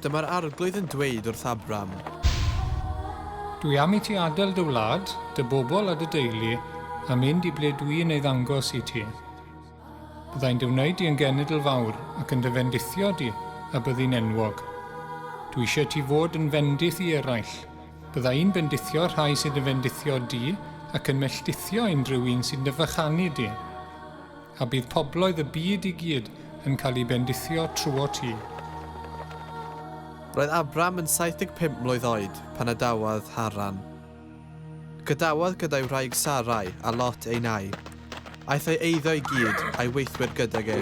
Dyma'r Arglwydd yn dweud wrth Abram. Dwi am i ti adael dy wlad, dy bobl a dy deulu, a mynd i ble dwi yn ei ddangos i ti. Byddai'n dy wneud di yn genedl fawr ac yn dy fendithio di a byddi'n enwog. Dwi eisiau ti fod yn fendith i eraill, Bydda i'n bendithio rhai sy'n dy fendithio di, ac yn melltithio unrhyw un sy'n dy fychanu di. A bydd pobloedd y byd i gyd yn cael eu bendithio trwot ti. Roedd Abram yn 75 mlwydd oed pan adawodd Haran. Gadawodd gyda'i wraig Sarai a Lot ei nai. Aeth ei eiddo i gyd a'i weithwyr gydag e.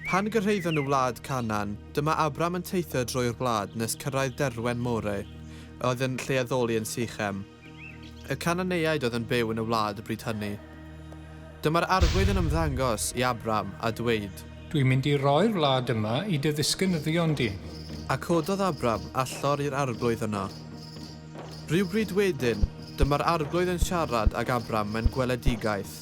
Pan gyrhaeddon nhw wlad Canaan, dyma Abram yn teithio drwy'r wlad nes cyrraedd derwen More, a oedd yn lle addoli yn Sychem. Y Cananeaid oedd yn byw yn y wlad y bryd hynny. Dyma'r arglwydd yn ymddangos i Abram, a dweud. Dwi'n mynd i roi'r wlad yma i dy ddisgynyddion di. A cododd Abram allor i'r arglwydd yno. Rywbryd wedyn, dyma'r arglwydd yn siarad ag Abram mewn gweledigaeth.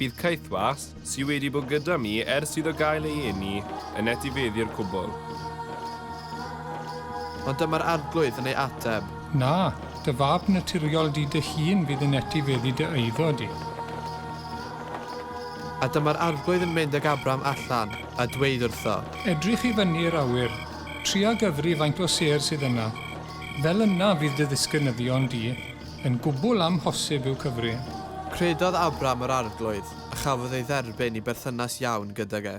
Bydd Caethwas, sydd wedi bod gyda mi ers iddo gael ei eni, yn etifeddu'r cwbl. Ond dyma'r Arglwydd yn ei ateb. Na, dy fab naturiol di dy hun fydd yn etifeddu dy eiddo di. A dyma'r Arglwydd yn mynd ag Abram allan, a dweud wrtho. Edrych i fyny i'r awyr, tria gyfri faint o sêr sydd yna. Fel yna fydd dy ddisgynyddion di. Yn gwbl amhosib yw cyfri. Credodd Abram yr Arglwydd, a chafodd ei dderbyn i berthynas iawn gydag e.